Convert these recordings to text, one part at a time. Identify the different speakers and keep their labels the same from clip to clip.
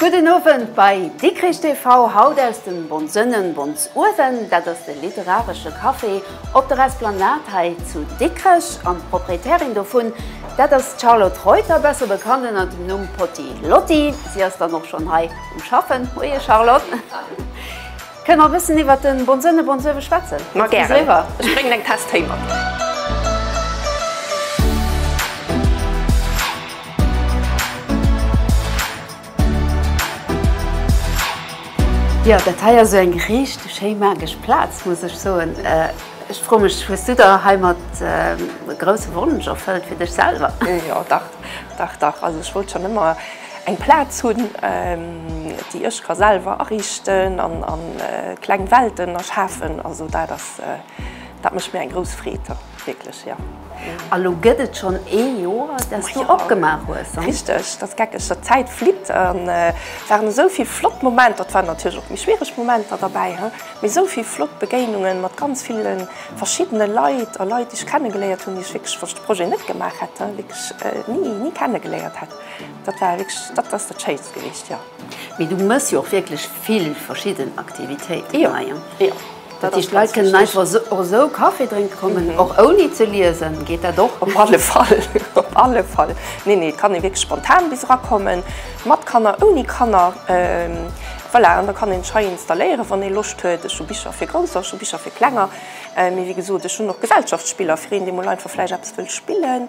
Speaker 1: Gudden Owend bei Dikrich TV, haut aus dem Bonsënnen Bons Uewen. Dat ass de literaresche Café op der Esplanade hei zu Dikrech. An d'Proprietärin dovun, dat ass d'Charlotte Reuter, besser bekannt ënnert dem Numm Potti Lotti. Si ass dann och schonn hei um Schaffen. Moie Charlotte. Kënne mer e bëssen iwwert de Bonsënne Bonsöwe schwätzen? Ma gären.
Speaker 2: Ech bréngen eng Taass Téi mat.
Speaker 1: Jo, dat hei ass jo eng richteg schéi magesch Plaz, muss ech soen. Ech froe mech, hues du der heimat e grousse Wonsch erfëllt fir dech selwer? Jo, dach,
Speaker 2: dach, dach. Also ech wollt schonn ëmmer. Eng Plaz hunn, déi ech ka selwer ariichten an kleng Welten erschafen. Also dat ass, dat mécht mir eng grouss Freed, wierklech, jo. A lo gëtt
Speaker 1: et schonn ee Joer, dass du opgemaach hues. Richteg, dat ass geckeg,
Speaker 2: dat d'Zäit flitt. Et waren esou vill flott Momenter, et waren natierlech och méi schwiereg Momenter derbäi, mee esou vill flott Begéinungen mat ganz ville verschiddene Leit a Leit, déi ech kennegeléiert hunn, déi ech wierklech, wann ech de Projet net gemaach hätt, wierklech ni, ni kennegeléiert hätt. Dat war wierklech, dat ass dat Schéinst gewiescht, jo. Mee du mëss jo
Speaker 1: och wierklech vill verschidden Aktivitéiten hei. Jo, jo. Dat heescht,
Speaker 2: d'Leit kënnen
Speaker 1: einfach esou, och esou Kaffi drénke kommen, och ouni ze liesen? Geet dat och? Op alle Fall,
Speaker 2: op alle Fall. Nee, nee, et kann ee wierklech spontan bis erakommen, mat Kanner, ouni Kanner. Voilà, an da kann een sech hei installéieren, wann ee Loscht huet. Ech hu Bicher fir Grousser, ech hu Bicher fir Klenger. Mee wéi gesot, ech hunn och Gesellschaftsspiller, fir een, dee mol einfach vläicht eppes wëll spillen.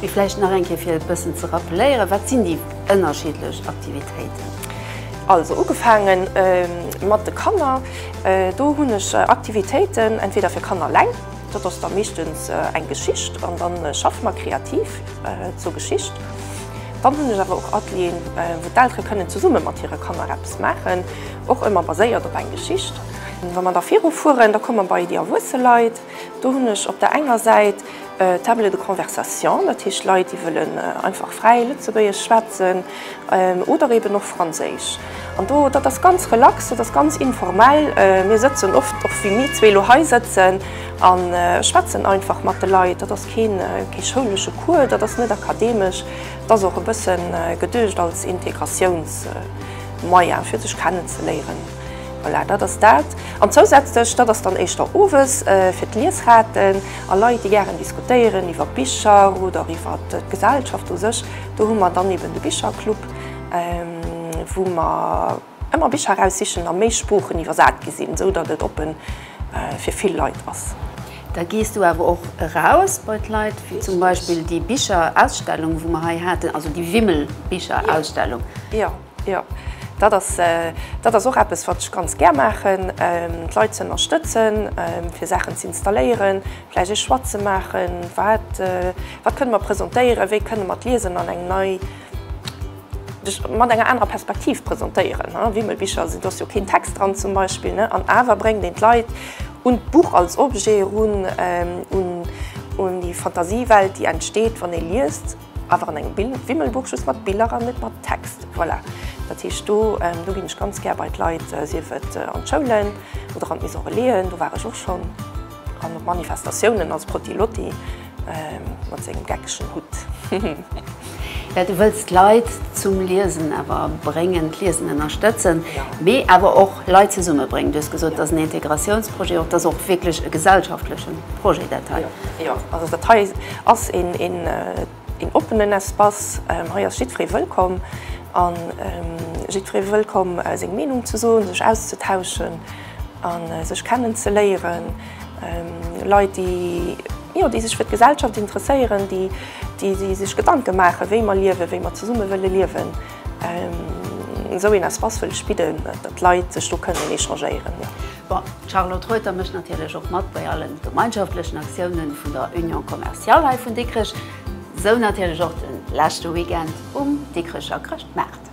Speaker 1: Mee vläicht nach eng Kéier fir e bëssen ze rappeléieren, wat sinn déi ënnerschiddlech Aktivitéiten? Also
Speaker 2: ugefaange mat de Kanner, do hunn ech Aktivitéiten entweder fir Kanner eleng, dat ass da meeschtens eng Geschicht an dann schaffe mer kreativ zur Geschicht. Dann hunn ech awer och Atelieren, wou d'Eltere kënnen zesumme mat hire Kanner eppes maachen, och ëmmer baséiert op eng Geschicht. Wa mer da virufueren, da komme mer bei déi erwuesse Leit. Do hunn ech op der enger Säit Table de conversation, dat heescht Leit, déi wëllen einfach fräi Lëtzebuergesch schwätzen oder eeben och Franséisch. An do, dat ass ganz relax, dat ass ganz informell. Mir sëtzen oft, och wéi mir zwee elo hei sëtzen, a schwätzen einfach mat de Leit. Dat ass kee schoulesche Cours, dat ass net akademesch. Dat ass och e bësse geduecht als Integratiounsmoyen, fir sech kennen ze léieren. Voilà, dat ass dat. An zousätzlech, dat ass dann éischter owes, fir d'Liesraten a Leit, déi gären diskutéieren iwwer Bicher oder iwwer d'Gesellschaft u sech, do hu mer dann eben de Bicherclub, wou mer ëmmer Bicher eraussichen a méi Sproochen iwwersat gi sinn, esou datt et oppe fir vill Leit ass. Da gees du
Speaker 1: awer och eraus bei d'Leit, wéi zum Beispill déi Bicherausstellung, wou mer hei haten, also déi Wimmelbicherausstellung. Jo.
Speaker 2: Jo, dat ass, dat ass och eppes, wat ech ganz gär maachen, d'Leit ze ënnerstëtzen, fir Saachen ze installéieren, vläicht ee Choix ze maachen, wat, wat kënne mer presentéieren, wéi kënne mer d'Liesen an eng nei, mat enger anerer Perspektiv presentéieren. Wimmelbicher sinn, do ass jo keen Text dran zum Beispill, an awer bréngt een d'Leit un d'Buch als Objet erun, un déi Fantasiewelt, déi entsteet, wann ee liest. Awer an engem Wimmelbuch just mat Biller an net mat Text. Voilà, dat heescht do ginn ech ganz gär bei d'Leit, sief et an d'Schoulen oder an d'Maisonrelaisen, do war ech och schonn, an op Manifestatiounen als Protti Lotti mat sengem geckegen Hutt.
Speaker 1: Well du wëlls d'Leit zum Liesen awer bréngen, d'Liesen ënnerstëtzen, mee awer och Leit zesummebréngen. Du hues gesot, et ass en Integratiounsprojet, och et ass och wierklech e gesellschaftleche Projet dat hei. Jo, also
Speaker 2: dat hei. Ass een oppenen Espace, hei ass jiddferee wëllkomm an jiddferee wëllkomm seng Meenung ze soen, sech auszetauschen an sech kennen ze léieren. Leit déi jo déi sech fir d'Gesellschaft interesséieren, déi sech Gedanken maachen wéi mer liewen, wéi mer zesummen wëllen liewen. Esou een Espace wëll ech bidden, datt Leit sech do kënnen échangéieren. Bon, d'Charlotte
Speaker 1: Reuter mécht natierlech och mat bei allen gemeinschaftlechen Aktiounen vun der Union Commerciale hei vun Dikrech, sou natierlech och den leschte Weekend um Dikrecher Chrëschtmaart.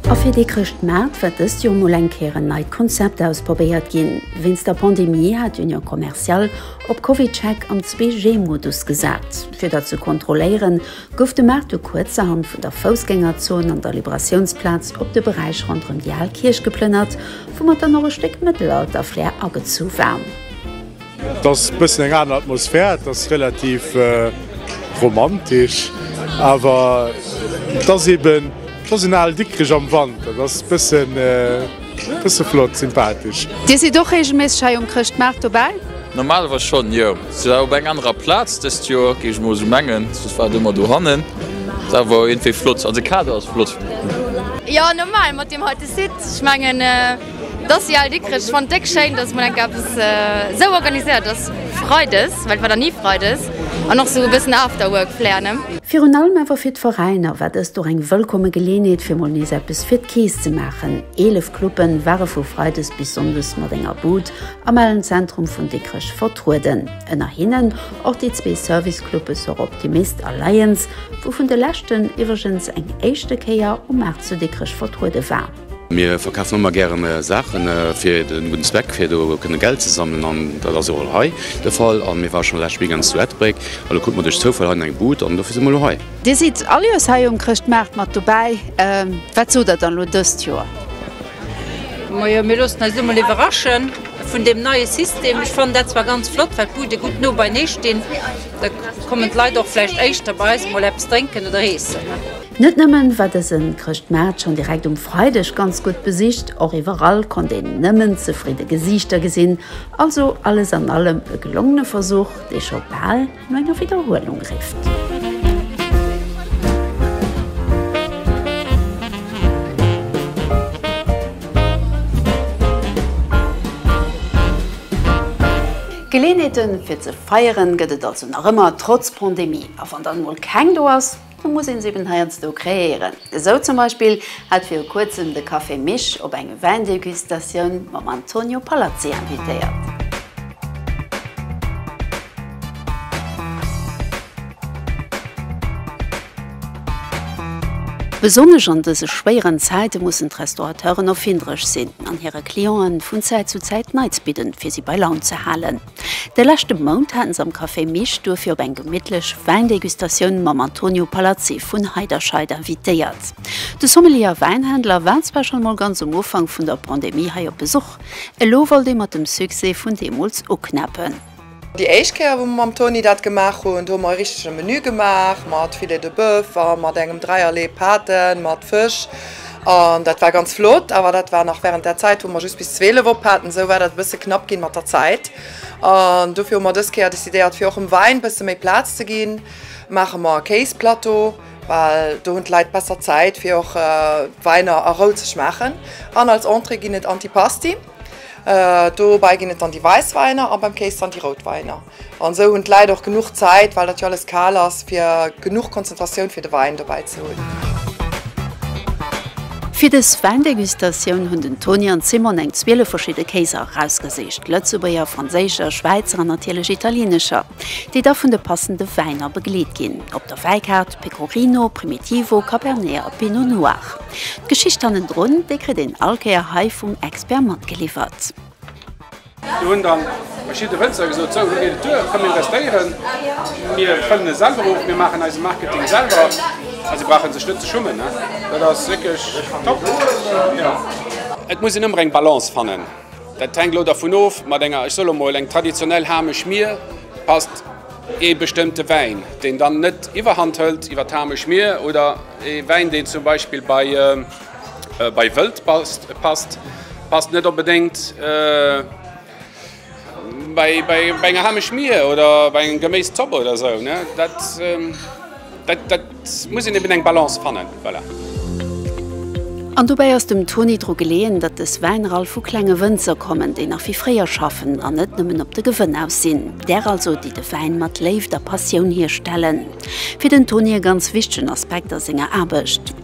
Speaker 1: A fir dee Chrëschtmaart wäert dëst Joer mol eng Kéier en neit Konzept ausprobéiert ginn. Wéinst der Pandemie hat d'Union Commerciale op CovidCheck am 2G-Modus gesat. Fir dat ze kontrolléieren, gouf de Marteau kuerzerhand vun der Foussgängerzon an der Liberatiounsplaz op de Beräich ronderëm déi al Kierch geplënnert, woumat dann och e Stéck Mëttelalter-Flair agezu war. Et
Speaker 3: ass e bëssen eng aner Atmosphär, et ass relativ romantesch, awer et ass eeben, et ass en al Dikrech am Wand. Dat ass e bëssen. Bësse flott, sympathesch. Dir sidd och regelméisseg
Speaker 1: hei um Chrëschtmaart dobäi? Normalerweis schonn,
Speaker 4: jo. Si war op eng anerer Plaz dëst Joer, géing ech mol esou mengen. Soss war et ëmmer dohannen. Dat awer war iergendwéi flott. An de Kader ass flott. Jo,
Speaker 5: normal mat deem heite Site. Ech mengen, et ass déi al Dikrech. Ech fannen et déck schéin, dass mol eng Kéier eppes esou organiséiert ass freides, well et war nach ni freides. An och sou e bëssen Afterwork Flair, ne? Virun allem awer fir
Speaker 1: d'Veräiner war dëst och eng wëllkomme Geleeënheet fir mol nees eppes fir d'Keess ze maachen. 11 Club'e ware vu Freides bis Sonndes mat enger Bud am alen Zentrum vun Dikrech vertrueden. Ënner hinnen och déi zwee Service Club'e Sor Optimist a Lions, wou vun de leschten iwwregens eng éischte Kéier um Maart zu Dikrech vertruede war. Mir verkafen ëmmer
Speaker 6: gären Saachen fir den gudden Zweck, fir do kënnen Geld ze sammelen an dat ass och hei de Fall. An mir waren schon lescht Weekend zu Etbréck an do kruten mer duerch Zoufall hei eng Bud an dofir si mer elo hei. Dir sidd all Joers
Speaker 1: hei um Chrëschtmaart mat dobäi, wat sot der dann elo dëst Joer?
Speaker 7: Majo, mir loossen eis elo mol iwwerraschen vun deem neie System. Ech fannen dat zwar ganz flott, well d'Bude gutt no beinee stinn, da kommen d'Leit och vläicht éischter bei eis mol eppes drénken oder eessen. Net nëmmen
Speaker 1: war dësen Chrëschtmaart schonn direkt um Freideg ganz gutt besicht, och iwwerall konnt een nëmmen zefridde Gesiichter gesinn. Also alles an allem e gelongene Versuch, dee scho bal no enger Widderhuelung rifft. Geleeënheete fir ze feieren gëtt et also nach ëmmer, trotz Pandemie. A wann dann emol keng do ass, D'Offer muss een eben heiansdo kreéieren. Esou zum Beispill hat viru kuerzem de Café Mich op eng Wäindegustatioun mam Antonio Palazzi invitéiert. Besonnesch an dëse schwéieren Zäite mussen d'Restaurateuren erfinderesch sinn an hire Clienten vun Zäit zu Zäit Neits bidden, fir si bei Laun ze halen. De leschte Mount haten se am Café Mich duerfir op eng gemittlech Wäindegustatioun mam Antonio Palazzi vun Heiderscheid invitéiert. De Sommelier a Wäinhändler war zwar schonn emol ganz um Ufank vun der Pandemie hei op Besuch, elo wollt ee mat dem Succès vun deemools uknäppen. Déi éischt
Speaker 8: Kéier wou mer mam Toni dat gemaach hunn, do hu mer e richtege Menü gemaach mat Filet de Bœuf a mat engem Dräierlee Pate mat Fësch. An dat war ganz flott, awer dat war nach während där Zäit, wou mer just bis 12 op haten. Esou war dat e bësse knapp ginn mat der Zäit. An dofir hu mer dës Kéier decidéiert, fir och dem Wäin bësse méi Plaz ze ginn, maache mer e Kéisplateau, well do hunn d'Leit besser Zäit, fir och d'Wäiner a Rou ze schmaachen. An als Entrée ginn et Antipasti. Dobäi ginn et dann déi wäiss Wäiner a beim Kéis dann déi rout Wäiner. An esou hunn d'Läit och genuch Zäit, well dat jo alles kal ass, fir genuch Konzentratioun fir de Wäin dobäi ze hunn.
Speaker 1: Fir dës Wäindegustatioun hunn den Toni an d'Simone eng 12 verschidde Kéiser erausgesicht, Lëtzebuerger, Franséischer, Schwäizer an natierlech Italienescher, déi da vun de passende Wäiner begleet ginn. Op der Wäikaart, Pecorino, Primitivo, Cabernet a Pinot Noir. D'Geschicht hannendrun, déi kritt een all Kéier hei vum Expert matgeliwwert.
Speaker 9: Do hunn dann verschidde Wënzer gesot, sou, elo geet et duer, komm mir investéieren, mir fëllen e selwer of, mir maachen eise Marketing selwer a si brauche sech net ze schummen. Dat ass wierklech top. Et muss een ëmmer eng Balance fannen, dat hänkt elo dervun of, mat enger, ech soe elo mol, eng traditionell Hamesch Mier passt ee bestëmmte Wäin, deen dann net Iwwerhand hëlt iwwer d'Hamesch Mier, oder ee Wäin, deen zum Beispill bei. Bei wëllt passt passt net onbedéngt. Bei enger Hameschmier oder bei enger Geméiszopp oder esou, dat muss een eben eng Balance fannen, voilà.
Speaker 1: An dobäi ass dem Toni dru geleeën, datt dës Wäiner all vu klenge Wënzer kommen, déi nach wéi fréier schaffen an net nëmmen op de Gewënn aus sinn. Där also, déi de Wäin mat Léift a Passioun hierstellen. Fir den Toni e ganz wichtegen Aspekt a senger Aarbecht.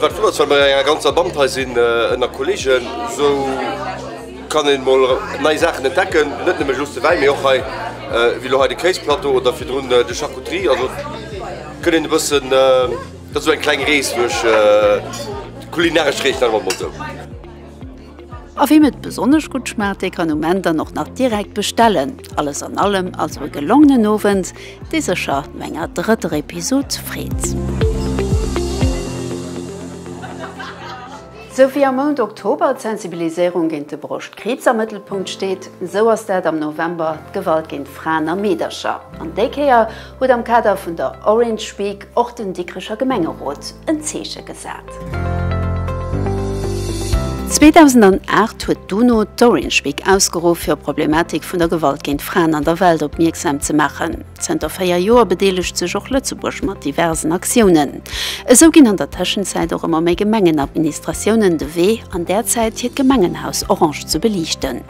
Speaker 10: Wat flott ass well mer an enger ganzer Band hei sinn, ënner Kolleegen, esou kann een mol nei Saachen entdecken, net nëmmen just de Wäin, mee och hei wéi elo hei de Kéisplateau oder virdrun de Charcuterie, also kënnt een e bëssen, dat ass esou eng kleng Rees duerch d'kulinaresch Rees, nennen mer et mol esou.
Speaker 1: A wiem et besonnesch gutt schmaacht, dee kann um Enn dann och nach direkt bestellen. Alles an allem also e gelongenen Owend, dee sécher no enger drëtter Episod freet. Sou wéi am Mount Oktober d'Sensibiliséierung géint de Broschtkriibs am Mëttelpunkt steet, sou ass dat am November d'Gewalt géint Fraen a Meedercher. An déi Kéier Huet am Kader vun der Orange Week och den Dikrecher Gemengerot en Zeeche gesat. 2008 huet d'UNO d'Orange Week ausgeruff, fir op d'Problematik vun der Gewalt géint Fraen an der Welt opmierksam ze maachen. Zënter véier Joer bedeelegt sech och Lëtzebuerg mat diversen Aktiounen. Esou ginn an der Tëschenzäit och ëmmer méi Gemengenadministratiounen de Wee an där Zäit, hiert Gemengenhaus orange ze beliichten.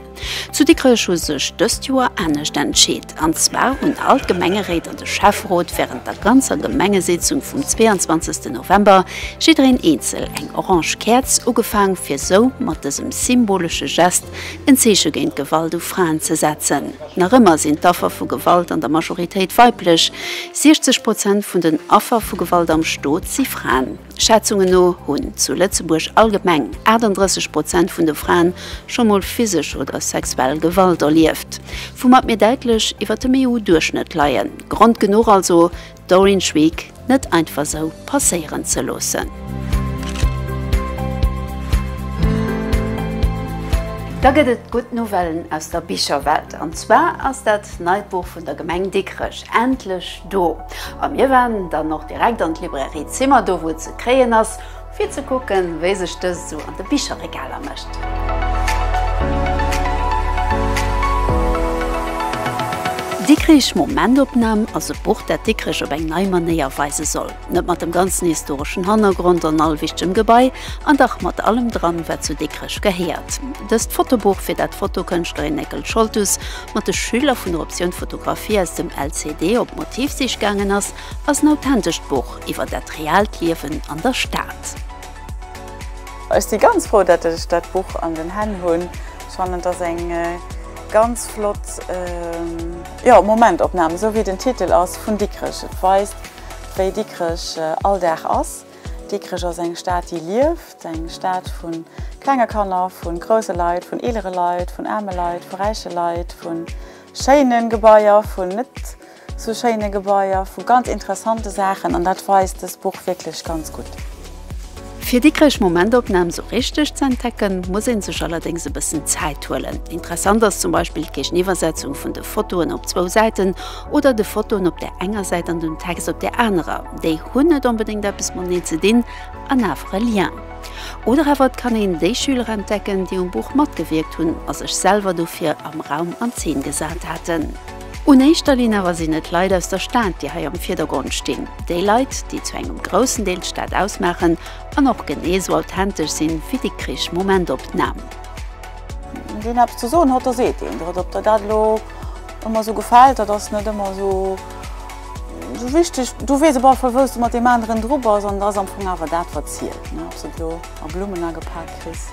Speaker 1: Zu Dikrech hu sech dëst Joer anescht entscheet, an zwar hunn all d'Gemengeréit an de Schäfferot wärend der ganzer Gemengesétzung vum 22 November jiddereen eenzel eng orange Käerz ugefaang fir sou mat dësem symbolesche Gest en Zeeche géint Gewalt u Fraen ze setzen. Nach ëmmer sinn d'Affer vu Gewalt an der Majoritéit weiblech, 60 Prozent vun den Affer vu Gewalt am Stot si Fraen. Schätzungen no hunn zu Lëtzebuerg allgemeng 38 Prozent vun de Fraen scho mol physesch oder sexuell Gewalt erlieft, woumat mir däitlech iwwer dem EU-Duerchschnëtt leien. Grond genuch also, d'Orange Week net einfach esou passéieren ze loossen. Da gëtt et gutt Nouvellen aus der Bicherwelt, an zwar ass dat neit Buch vun der Gemeng Dikrech endlech. Do. A mir waren dann och direkt an d'Librairie Zimmer, do wou et ze kréien ass, fir ze kucken, wéi sech dëst esou an de Bicherregaler mécht. Dikrich, Momentopnam ass e Buch, dat Dikrech op eng nei Manéier weise soll. Net mat dem ganzen historeschen Hannergrond an all wichtegem Gebai, an dach mat allem dran, wat zu Dikrech gehéiert. Dëst Fotobuch fir dat d'Fotokënschtlerin Néckel Scholtus mat de Schüler vun der Optioun Fotografie aus dem LCD op Motivsich gaangen ass, ass en authentescht Buch iwwer dat reaalt Liewen an der Stad.
Speaker 11: Ech si ganz frou dat ech dat Buch an den Hänn hunn. Ech fannen et ass eng ganz flott Momentopnam, esou wéi den Titel ass, vun Dikrech. Et weist wéi Dikrech all Dag ass. Dikrech ass eng Stad, déi lieft, eng Stad vu klenge Kanner, vu grousse Leit, vun eelere Leit, vun aarme Leit, vu räiche Leit, vu schéine Gebaier, vu net esou schéine Gebaier, vu ganz interessante Saachen. An dat weist dëst Buch wierklech ganz gutt. Fir
Speaker 1: Dikrech Momentopnam esou richteg ze entdecken, muss ee sech allerdéngs e bëssen Zäit huelen. Interessant ass zum Beispill d'Géigeniwwersetzung vun de Fotoen op zwou Säiten, oder de Fotoen op der enger Säit an dem Text op der anerer, déi hunn net onbedéngt eppes mateneen ze dinn an awer e Lien. Oder awer et kann een déi Schüler entdecken, déi um Buch matgewierkt hunn a sech selwer dofir am Raum an Zeen gesat haten. Un éischter Linn awer sinn et d'Leit aus der Stad, déi hei am Virdergrond stinn, déi Leit, déi zu engem groussen Deel d'Stad ausmaachen an och genee esou authentesch sinn ewéi Dikrich. Momentopnam.
Speaker 11: Deen eppes ze soen huet, da seet deen et op der dat elo. Emmer sou gefällt, dat ass net emmer sou sou wichteg. Du weess op alle Fall wous de mat deem aneren dru bass an et ass am Fong awer dat wat zielt ne. Ob s de et elo a Blummen agepaakt kriss,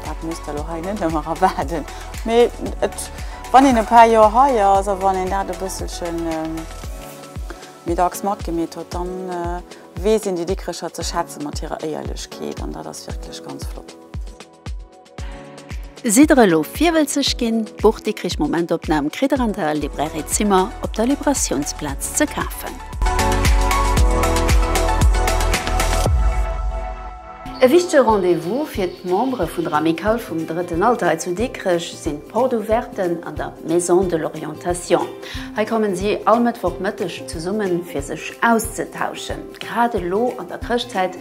Speaker 11: dat muss der elo hei net emmer erwaarden. Mee et wann een e paar Joer hei ass a wann een dat e bësselchen méi dacks matgemeet huet, dann weess een déi Dikrecher ze schätzen mat hirer Éierlechkeet an dat ass wierklech ganz flott.
Speaker 1: Sidd der elo virwëlzeg ginn? D'Buch Dikkrich Momentopnam kritt der an der Librairie Zimmer op der Liberatiounsplaz ze kafen. E wichtege Rendez-vous fir d'Membere vun der Amicale vum Drëtten Alter hei zu Dikrech sinn d'Porte Ouverten an der Maison de l'Orientation. Hei kommen si all Mëttwoch Mëtteg zesummen, fir sech auszetauschen. Grad elo an der Chrëschtzäit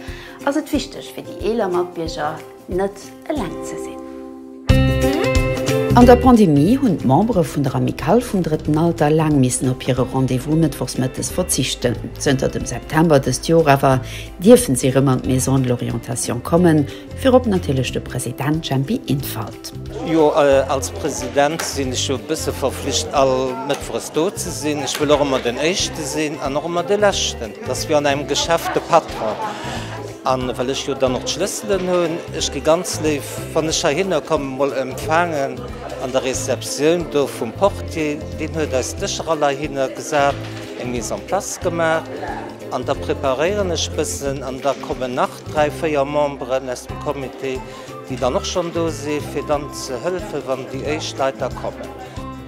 Speaker 1: ass et wichteg fir déi eeler Matbierger net eleng ze sinn. An der Pandemie hunn d'Membere vun der Amicale vum drëtten Alter laang missen op hire Rendez-vous mëttwochs mëttes verzichten. Zënter dem September dëst Jor awer dierfen si rëm an d'Maison de l'Orientation kommen, virop natierlech de President Jempy Infalt. Jo,
Speaker 12: als President sinn ech jo e bësse verflicht all mëttwoches do ze sinn. Ech wëll och ëmmer den éischte sinn an och ëmmer de leschten. Et ass wéi an engem Geschäft, de Patron, an well ech jo dann och d'Schlësselen hunn, ech gi ganz léif, wann ech heihinner kommen, emol empfaangen an der Receptioun do vum Portier. Deen huet eis d'Dëscher all heihinner gesat, eng Mise en place gemaach an da preparéieren ech bëssen an da kommen nach dräi, véier Memberen aus dem Comité. déi dann och schonn do si fir dann ze hëllefen, wann déi éischt Leit da kommen.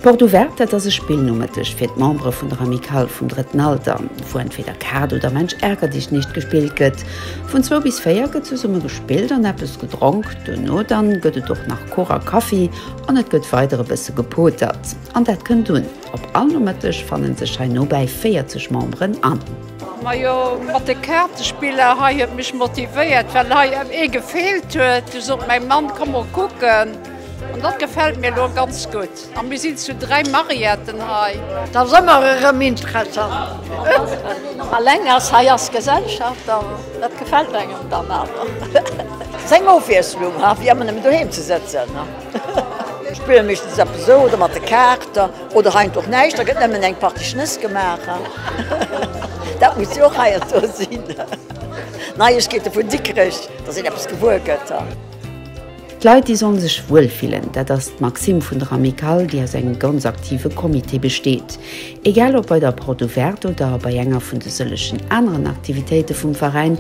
Speaker 12: Porte Ouverte,
Speaker 1: dat ass e Spillnomëtteg fir d'Membere vun der Amicale vum drëtten Alter, wou entweder Kaart oder Mensch ärger dich nicht gespillt gëtt. Vun zwou bis véier gëtt zesumme gespillt an eppes gedronk. Duerno dann gëtt et och nach Kuch a Kaffi an et gëtt weider e bësse gepotert. An dat kënnt un. Op all Nomëtteg fanne sech hei nobäi 40 Memberen an. Majo
Speaker 7: mat de Kaartespiller hei huet mech motivéiert well hei ee gefeelt huet. Du sot mäi Mann komm mol kucken an dat gefält mir lo ganz gutt a mir sinn zu 3 Mariaten hei. Dat ass ëmmer erëm
Speaker 13: interessant. Alleng ass hei ass Gesellschaft an dat gefält engem dann awer. Ass eng Ofwiesslung, ha wéi ëmmer nëmmen doheem ze sëtzen. Spille meeschtens eppes esou, oder mat de Kaarter, oder heiansdo och näischt, da gëtt nëmmen eng Partie Schnëss gemaach. Dat muss jo och heiansdo sinn. Neiegkeete vun Dikrech, dass een eppes gewuer gëtt.
Speaker 1: D'Leit, déi solle sech wuel fillen, dat ass d'Maxime vun der Amicale, déi aus engem ganz aktive Comité besteet. Egal ob bei der Porte Ouverte oder bei enger vun de sëllegen aneren Aktivitéite vum Veräin,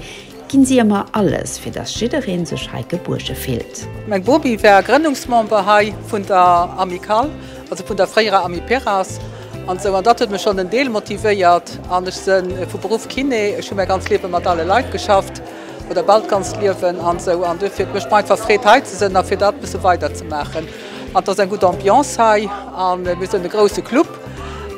Speaker 1: Ginn si ëmmer alles fir dass jiddereen sech hei gebuerge fillt. Meng Bobi war
Speaker 14: Grënnungsmember hei vun der Amicale, also vun der fréierer Amiperas an esou an dat huet mech schonn en Deel motivéiert. An ech se vu Beruff Kiné, ech hu mäi ganz Liewe mat ale Leit geschafft oder bal d'ganzt Liewen an esou an duerfir et mécht mer einfach Freed hei ze sënn a fir dat bësse weider ze maachen. An et ass eng gutt Ambiance hei an mir sënn e grousse Club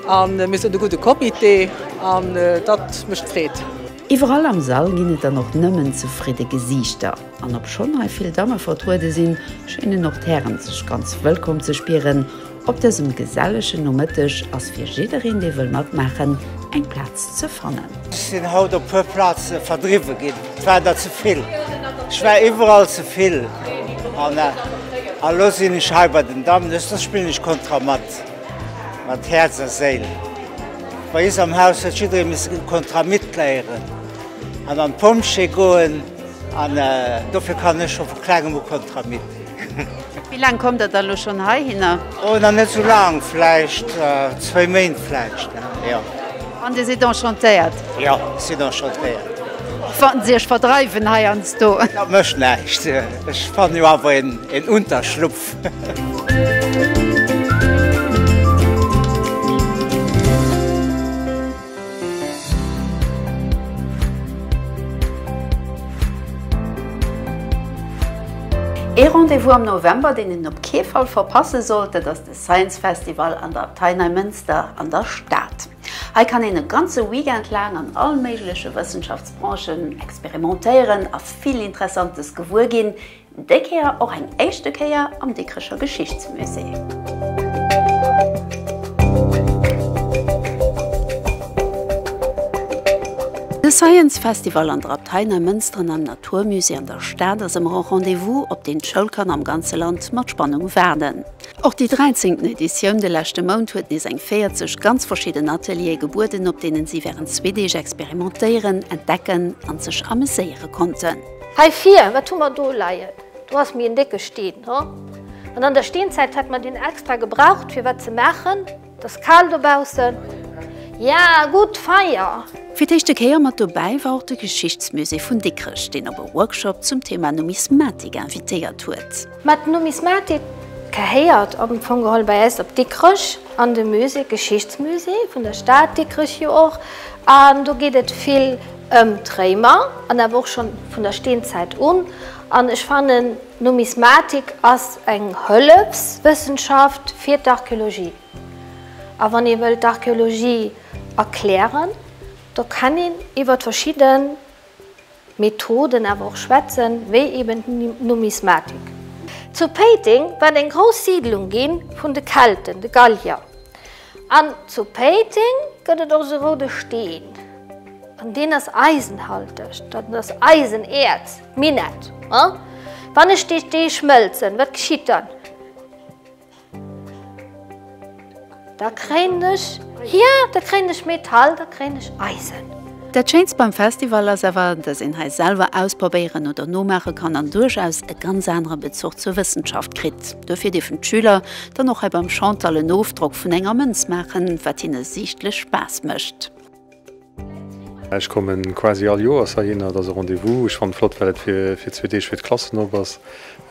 Speaker 14: an mir sënn e gudde Comité an dat mécht Freed. Iwwerall am
Speaker 1: Sall ginn et dann och nëmmen zefridde Gesiichter. An obschonn hei vill Damme vertruede sinn, schéinen och d'Hären sech ganz wëllkomm ze spieren. Op dësem gesellegen Nomëtteg ass fir jiddereen, dee wëll matmaachen, eng Plaz ze fannen. Ech sinn haut op puer
Speaker 15: Plaze verdriwwe ginn, et war der ze vill. Ech war iwwerall ze vill an elo sinn ech hei bei den Dammen. Ech soss spillen ech Kontramat. Mat Häerz a Séil. Bei is am Haus huet jidderee misse den Contrat mitléieren an an d'Pompjee goen an dofir kann ech scho vu Klengem u Contrat mit. Wéi laang
Speaker 1: kommt Der dann elo schonn heihinner? Oh, nach net sou
Speaker 15: laang, vläicht zwéi Méint vläicht, jo. An Dir sidd
Speaker 1: enchantéiert? Jo, ech sinn
Speaker 15: enchantéiert. Wann se
Speaker 1: Iech verdreiwen heiansdo? Dat mécht näischt,
Speaker 15: ech fannen jo awer een Unterschlupf
Speaker 1: Ee Rendez-vous am November, deen een op kee Fall verpasse sollt, dat ass de Science Festival an der Abtei Neimënster an der Stad. Hei kann een e ganze Weekend laang an all méigleche Wëssenschaftsbranchen experimentéieren a vill Interessantes gewuer ginn, Déi Kéier och eng éischte Kéier am Dikrecher Geschichtsmusée. De Science Festival an der Abtei Neimënster an am Natur Musée an der Stad ass ëmmer e Rendez-vous, op deen d'Schoulkanner am ganze Land mat Spannung waarden. Och déi 13. Editioun de leschte Mount huet nees eng 40 ganz verschidden Ateliere gebueden, op deenen si wärend zwee Deeg experimentéieren, entdecken an sech ameséiere konnten. Hei vir, wat
Speaker 16: hu mer do leien? Do ass méi en décke Steen, ho? An an der Steenzäit hätt mer deen extra gebraucht, fir wat ze maachen? Et ass kal dobaussen. Ja, gutt, Feier! Fir d'éischte Kéier
Speaker 1: mat dobäi war och de Geschichtsmusée vun Dikrech, deen op e Workshop zum Thema Numismatik invitéiert huet. Mä d'Numismatik
Speaker 16: gehéiert am Fong geholl bei eis op Dikrech an de Musée, Geschichtsmusée vun der Stad Dikrech jo och. An do geet et vill ëm d'Réimer an awer och schonn vun der Steenzäit un. An ech fannen, d'Numismatik ass eng Hëllefswëssenschaft fir d'Archeologie. A wann ee wëllt d'Archeologie erklären, da kann een iwwert verschidde Methoden awer och schwätzen, wéi eben d'Numismatik. Zu Péiteng war et eng grouss Siidlung gi vun de Kelten, de Gallier. An zu Péiteng gëtt et och sou roude Steen, an deen ass eisenhalteg, dat ass Eisenäerz, Minett. Wann ech déi dee schmëlzen, wat geschitt dann? Da kréien ech, jo, da kréien ech Metall, da kréien ech Eisen. Dat schéinst beim
Speaker 1: Festival ass awer, dass een hei selwer ausprobéieren oder nomaache kann an duerchaus e ganz anere Bezuch zur Wëssenschaft kritt. Duerfir dierfen d'Schüler dann och hei beim Chantal en Ofdrock vun enger Mënz maachen, wat hinne siichtlech Spaass mécht.
Speaker 17: Ech kommen quasi all Joers heihinner, et ass e Rendez-vous. Ech fannen et flott well et fir zwee Deeg fir d'Klassen op ass.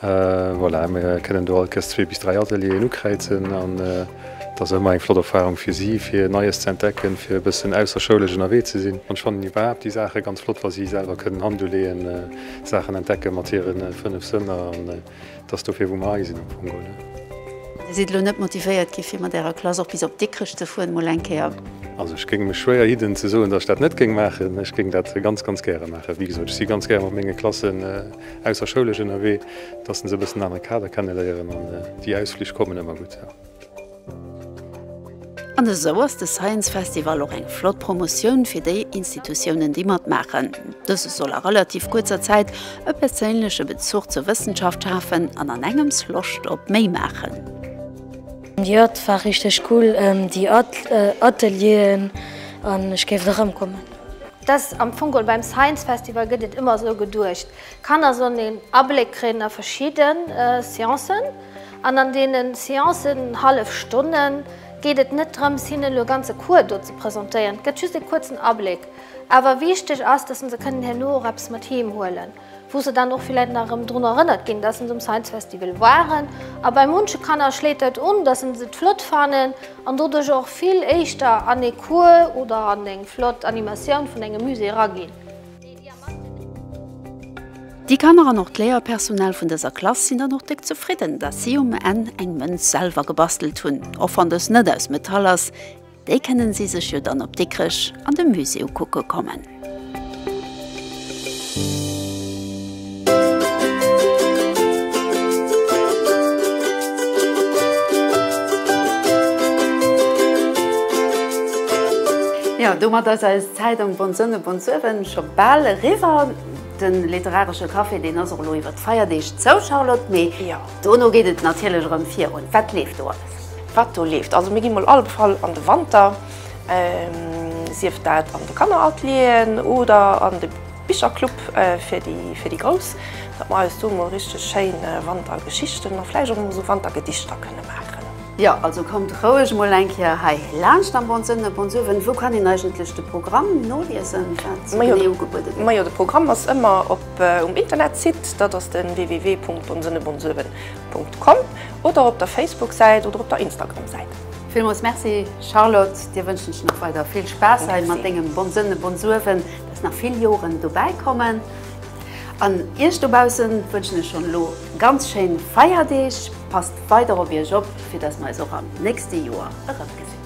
Speaker 17: Voilà, mir kënnen do alkes zwee bis dräi Atelieren ukräizen an et ass ëmmer eng flott Erfarung fir si, fir Neies ze entdecken, fir e bëssen ausserschoulesch ënnerwee ze sinn. An ech fannen iwwerhaapt déi Saache ganz flott, wa si selwer kënnen Hand uleeën, Saachen entdecke mat hire fënnef Sënner. An et ass dofir, wou mer hei sinn am Fong elo, ne? Dir sidd
Speaker 1: elo net motivéiert ginn, fir mat ärer Klass och bis op Dikrech ze fueren, mol eng Kéier? Also ech géing mech
Speaker 17: schwéier hidden, ze soen, datt ech dat net géing maachen. Ech géing dat ganz, ganz gäre maachen. Wéi gesot, ech si ganz gär mat menge Klassen. Ausserschoulesch ënnerwee, dass se esou e bëssen en anere Kader kenneléieren an déi Ausflich kommen ëmmer gutt, jo.
Speaker 1: An esou ass de Science Festival och eng flott Promotioun fir déi Institutiounen, déi matmaachen. Dëse soll a relativ kuerzer Zäit e perséinleche Bezuch zur Wëssenschaft schafen an an engems Loscht op méi maachen.
Speaker 18: Jo et war richteg cool déi Atelieren an ech géif nach erëmkommen. Et ass am
Speaker 16: Fong geholl, beim Science Festival gëtt et ëmmer esou geduecht, d'Kanner sollen een Abléck kréien a verschidde Sciencen. An an deene Sciencen, hallef Stonne, geet et net drëms, hinnen elo e ganze Cours do ze presentéieren. Et gëtt just e kuerzen Abléck. Awer wichteg ass, dass se kënnen herno och eppes mat heem huelen. wou se dann och villäit nach erëm drun erënnert ginn, dass se um Science Festival waren. A bei munche Kanner schléit dat un, dass se et flott fannen an doduerch och vill éischter an ee Cours oder an eng flott Animatioun vun engem Musée eraginn.
Speaker 1: Déi Kanner an och d'Léierpersonal vun dëser Klass sinn dann och déck zefridden, dass si um Enn eng Mënz selwer gebastelt hunn, och wann dës net aus Metall ass. Déi kënnen si sech jo dann op Dikrech an de Musée ukucke kommen. Jo, domat ass eis Zäit am Bonn Sonne, Bonn Suewen scho bal eriwwer. De literaresche Café, deen ass och elo iwwer d'Feierdeeg zou, Charlotte, mee dono geet et natierlech erëm virun. Wat leeft do alles? Wat do leeft.
Speaker 2: Also mir gi mol alle Fall an de Wanter, sief dat an de Kanneratelieren oder an de Bicherclub fir déi Grouss, datt mer eis do mol richteg schéin Wantergeschichten a vläicht och mol esou Wantergedichter kënne maachen. Jo, also kommt
Speaker 1: roueg mol eng Kéier hei laanscht am Bonn-Sënne. Bonsuewen, wou kann een eigentlech de Programm noliesen, wat sou genee ugebuede
Speaker 2: gëtt? Majo, de Programm ass ëmmer um Internetsite, dat ass de www.bonnsënnebonsuewen. Com oder op der Facebook-Säit oder op der Instagram-Säit. Villmols Merci
Speaker 1: Charlotte, dir wënschen ech nach weider vill Spaass hei mat dengem Bonsënn e Bonsuewen, dass nach vill Joren dobäi kommen an iech dobaussen wënschen ech schonn elo ganz schéin Feierdeeg. Passt weider op iech op, fir dass mer eis och am nächste Joer erëmgesinn.